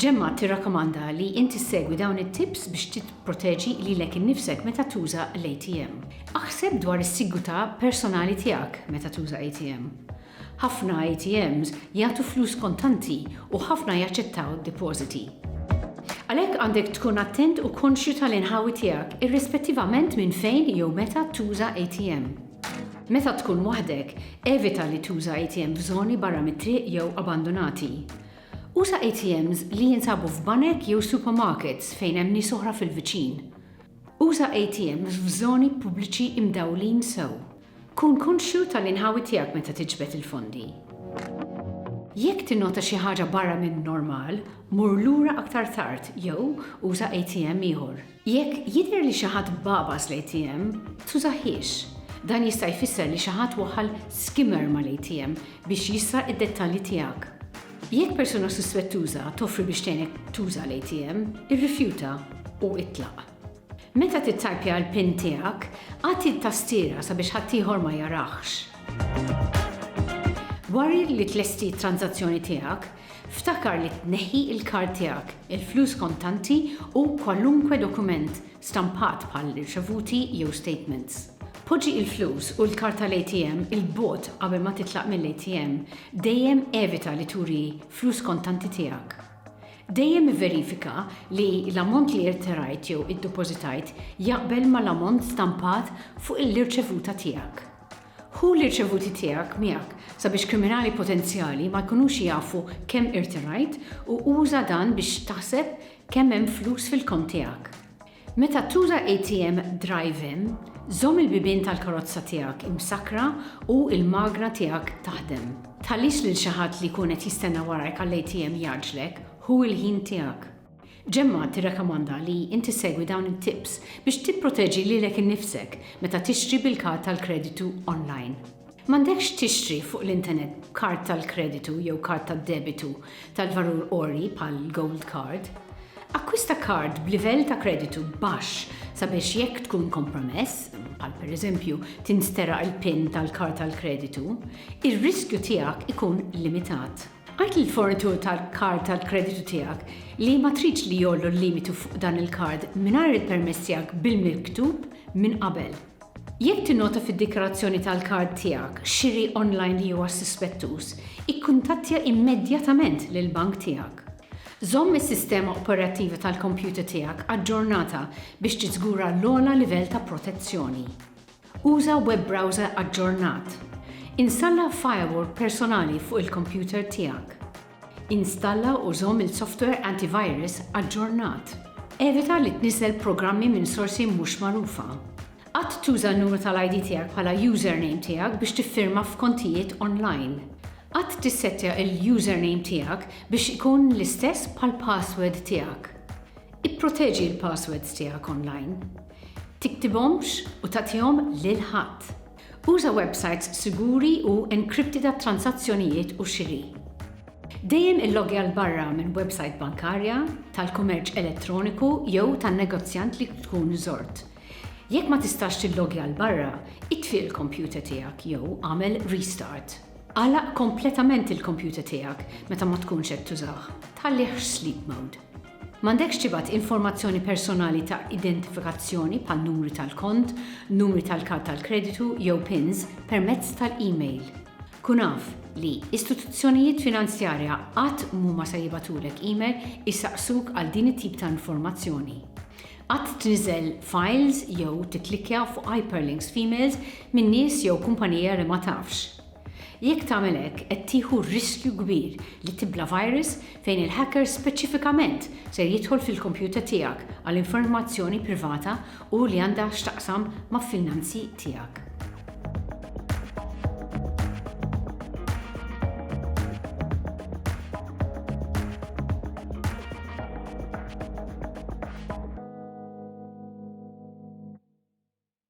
Ġemma tirrakkomanda li inti segwi dawn it-tips biex titproteġi lilek innifsek meta tuża l-ATM. Aħseb dwar is-sigurtà personali tiegħek meta tuża ATM. Ħafna ATMs jagħtu flus kontanti u ħafna jaċċettaw depożiti. Għalhekk għandek tkun attent u konxju tal-inħawi tiegħek irrispettivament minn fejn jew meta tuża ATM. Meta tkun waħdek, evita li tuża ATM f'żoni barra mit-triq jew abbandunati. Uża ATMs li jinsabu f'banek jew supermarkets fejn hemm nies oħra fil-viċin. Uża ATMs f'żoni pubbliċi imdawlin sew. Kun konxju tal-inħawi tiegħek meta tiġbed il-fondi. Jekk tinnota xi ħaġa barra min-normal, mur lura aktar tard jew uża ATM ieħor. Jekk jidher li xi ħadd bagħbas l-ATM, tużahiex. Dan jista' jfisser li xi ħadd waħħal skimmer mal-ATM biex jisraq id-dettalji tiegħek. Jekk persuna suspettuża toffri biex tgħinek tuża l-ATM, irrifjuta u itlaq. Meta tittajpja l-pin tiegħek, agħti t-tastiera sabiex ħaddieħor ma jarahx. Wara li tlesti t-tranżazzjoni tiegħek, ftakar li tneħħi l-kard tiegħek, il-flus kontanti u kwalunkwe dokument stampat bħal riċevuti jew statements. Poġġi l-flus u l-kard tal-ATM 'il bogħod qabel ma titlaq mill-ATM, dejjem evita li turi flus kontanti tiegħek. Dejjem ivverifika li l-ammont li irterajt jew iddepożitajt jaqbel mal-ammont stampat fuq l-irċevuta tiegħek. Ħu l-irċevuti tiegħek miegħek sabiex kriminali potenzjali ma jkunux jafu kemm irterajt u uża dan biex taħseb kemm hemm flus fil-kont tiegħek. Meta tuża ATM drive-in, żomm il-bibien tal-karozza tiegħek imsakkra u l-magna tiegħek taħdem. Tħallix lil xi ħadd li jkun qed jistenna warajk għall-ATM jgħaġġlek, ħu l-ħin tiegħek. Gemma tirrakkomanda li inti ssegwi dawn it-tips biex tipproteġi lilek innifsek meta tixtri bil-kard tal-kreditu online. M'għandekx tixtri fuq l-intenet b'kard tal-kreditu jew kard tad-debitu tal-valur għoli bħal Gold Card. Akkwista kard b'livell ta' kreditu baxx sabiex jekk tkun kompromess, bħal pereżempju tinsteraq il-pin tal-kard tal-kreditu, ir-riskju tiegħek ikun limitat. Għid lill-fornitur tal-kard tal-kreditu tiegħek li ma tridx li jgħollu l-limitu fuq dan il-kard mingħajr il-permess tiegħek bil-miktub minn qabel. Jekk tinnota fid-dikjarazzjoni tal-kard tiegħek xiri online li huwa suspettuż, ikkuntattja immedjatament lill-bank tiegħek. Żomm is-sistema operattiva tal-kompjuter tiegħek aġġornata biex tiżgura l-ogħla livell ta' protezzjoni. Uża web browser aġġornat. Installa firewall personali fuq il-kompjuter tiegħek. Installa u żomm il-softwer antivirus aġġornat. Evita li tniżżel programmi minn sorsi mhux magħrufa. Qatt tuża n-numru tal-ID tiegħek bħala username tiegħek biex tiffirma f'kontijiet onlajn. Qatt tissettja l-username tiegħek biex ikun l-istess bħall-password tiegħek. Ipproteġi l-passwords tiegħek onlajn. Tiktibhomx u tagħtihom lil ħadd. Uża websajts siguri u enkripti tat-transazzjonijiet u xiri. Dejjem illoggja 'l barra minn websajt bankarja, tal-kummerċ elettroniku jew tan-negozjant li tkun żort. Jekk ma tistax tilloggja 'l barra, itfi l-kompjuter tiegħek jew agħmel restart. Agħlaq kompletament il-kompjuter tiegħek meta ma tkunx qed tużah, tħallih f'sleep mode. M'għandekx tibgħat informazzjoni personali ta' identifikazzjoni bħal numri tal-kont, numri tal-kard tal-kreditu jew pins permezz tal-email. Kun af li istituzzjonijiet finanzjarja qatt mhuma se jibgħatulek email isaqsuk għal din it-tip ta' informazzjoni. Qatt tniżżel files jew tikklikkja fuq hyperlinks f'emails minn nies jew kumpanija li ma tafx. Jekk tagħmel hekk qed tieħu riskju kbir li tibla' virus fejn il-hacker speċifikament ser jidħol fil-kompjuter tiegħek għal informazzjoni privata u li għandha x'taqsam ma' finanzi tiegħek.